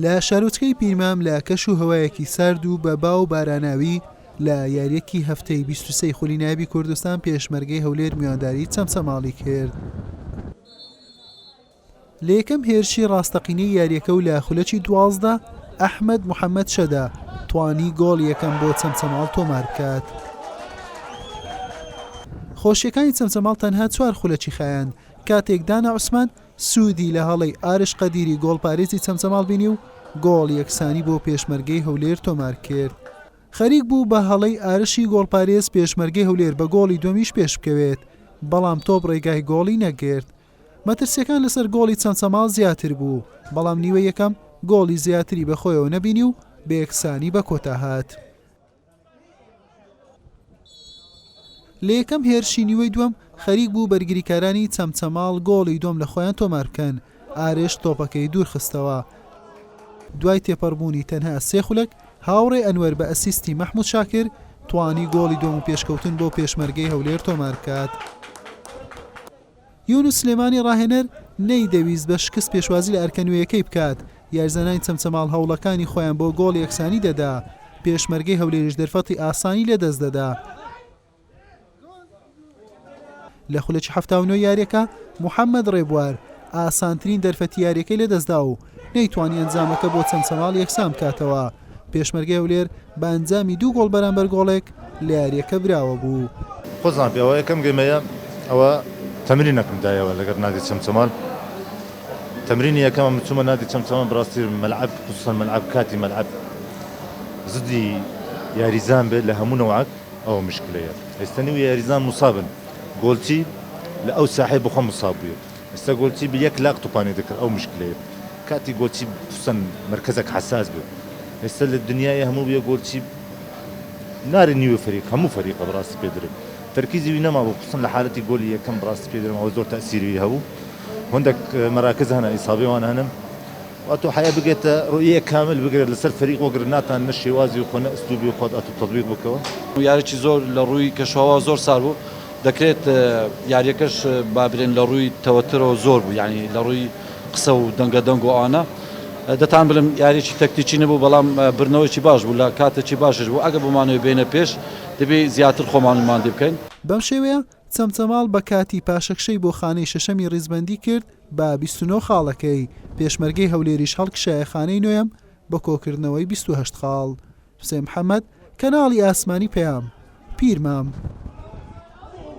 لە شارۆچکەی پیرمام لە کەش و هەوایەکی سارد و بە با و باراناوی لە یاریەکی هەفتەی 23 خولی نایبی کوردستان پێشمەرگەی هەولێر میوانداری چەمچەماڵی کرد. لە یەکەم هێرشی ڕاستەقینەی یاریەکە و لە خولەکی دوازدە ئەحمد محەممەد شەدا توانی گۆڵ یەکەم بۆ چەمچەماڵ تۆمار بکات. خۆشیەکانی چەمچەماڵ تەنها چوار خولەکی خایاند کاتێک دانا عوسمان سوودی لە هەڵەی ئارش قەدیری گۆڵپارێزی چەمچەماڵ بینی و گۆڵ یەکسانی بۆ پێشمەرگەی هەولێر تۆمارکرد. خەریک بوو بە هەڵەی ئارشی گۆڵپارێز پێشمەرگەی هەولێر بە گۆڵی دووەمیش پێشبکەوێت، بەڵام تۆپ رێگای گۆڵی نەگرت. مەترسییەکان لەسەر گۆڵی چەمچەماڵ زیاتر بوو، بەڵام نیوەی یەکەم گۆڵی زیاتری بەخۆیەوە نەبینی و بەیەکسانی بەکۆتاهات. لە یەکەم هێرشی نیوەی دووەم خەریک بوو بەرگریکارانی چەمچەماڵ گۆڵی دووەم لە خۆیان تۆمار بکەن، ئارێش تۆپەکەی دوورخستەوە. دوای تێپەڕبوونی تەنها سێ خولەک، هاوڕێ ئەنوەر بە ئەسیستی مەحمود شاکر توانی گۆڵی دووەم و پێشکەوتن بۆ پێشمەرگەی هەولێر تۆمار بکات. یونس سلێمانی راهێنەر نەیدەویست بە شکست پێشوازی لە ئەرکە نوێیەکەی بکات، یاریزانانی چەمچەماڵ هەوڵەکانی خۆیان بۆ گۆڵ یەکسانی دەدا، پێشمەرگەی هەولێریش دەرفەتی ئاسانی لەدەست دەدا. لە خولەکی حەفتا و نۆ یارییەکە محەممەد رێبوار ئاسانترین دەرفەتی یارییەکەی لەدەستدا و نەیتوانی ئەنجامەکە بۆ چەند چەماڵ یەکسان بکاتەوە، پێشمەرگەی هەولێر بە ئەنجامی دوو گۆڵ بەرامبەر گۆڵێک لە یارییەکە براوە بوو. خۆزان پێ ئەوە یەکەم گەیمەیە ئەوە تەمرینەکم دایەوە لەگەر نادی چەمچەمال تەمرینی یەکەمم چومە نادی چەمچەمال بەڕاستی مەلعەب خصوصا مەلعەب کاتی مەلعەب زدی یاریزان بێت لە هەموو نەوعەک ئەوە مشکلەیە ئێستا نیو یاریزان مصابن گۆلچی لە ئەو ساحەی بۆخۆم مصاب بویە ئێستا گۆچی بە یەک لاق توپانێ دەکرد ئەو مشکلەیە کاتی گۆچی پسن مەرکەزەک حەساس بێ ئێستا لە دنیای هەموو بێ گۆچی ناری نیوێ فەریق هەموو فەریقە بەڕاستی پێ درێ تەرکیزی وی نەمابوو خصوصا لە حالەتی گۆلی یەکەم بڕاستی پێ درێم ئەوە زۆر تەسیری هەبوو هەندێک مەراکز هەنە ئیسابێ وان هەنم واتۆ حیا بگێتە ڕۆیە کامل بگرێت لەسەر فەریق وەگر ناتان نە شێوازی و خۆ نە ئەسلوبی خۆت ئەتو تەبیق بکەوە یاریی زۆر لە ڕووی کەشوهەوا زۆر سارد بوو. دەکرێت یاریەکەش بابرێن لەڕووی تەوەترەوە زۆر بوو یانی لەڕووی قسە و دەنگە دەنگ و ئانە دەتان بلم یاریی تەکتیکی نەبوو بەڵام برنەوەیکی باش بوو لە کاتێکی باشش بوو ئەگە بمانەوەی بێنە پێش دەبی زیاتر خۆمان نماندی بکەین. بەم شێوەیە چەمچەماڵ بە کاتی پاشەکشەی بۆ خانەی شەشەمی ڕیزبەندی کرد بە بیست و نۆ خاڵەکەی، پێشمەرگەی هەولێریش هەڵکشایە خانەی نۆیەم بە کۆکردنەوەی بیست و هەشت خاڵ. حوسێن محەمەد، کەناڵی ئاسمانی پەیام، پیرمام.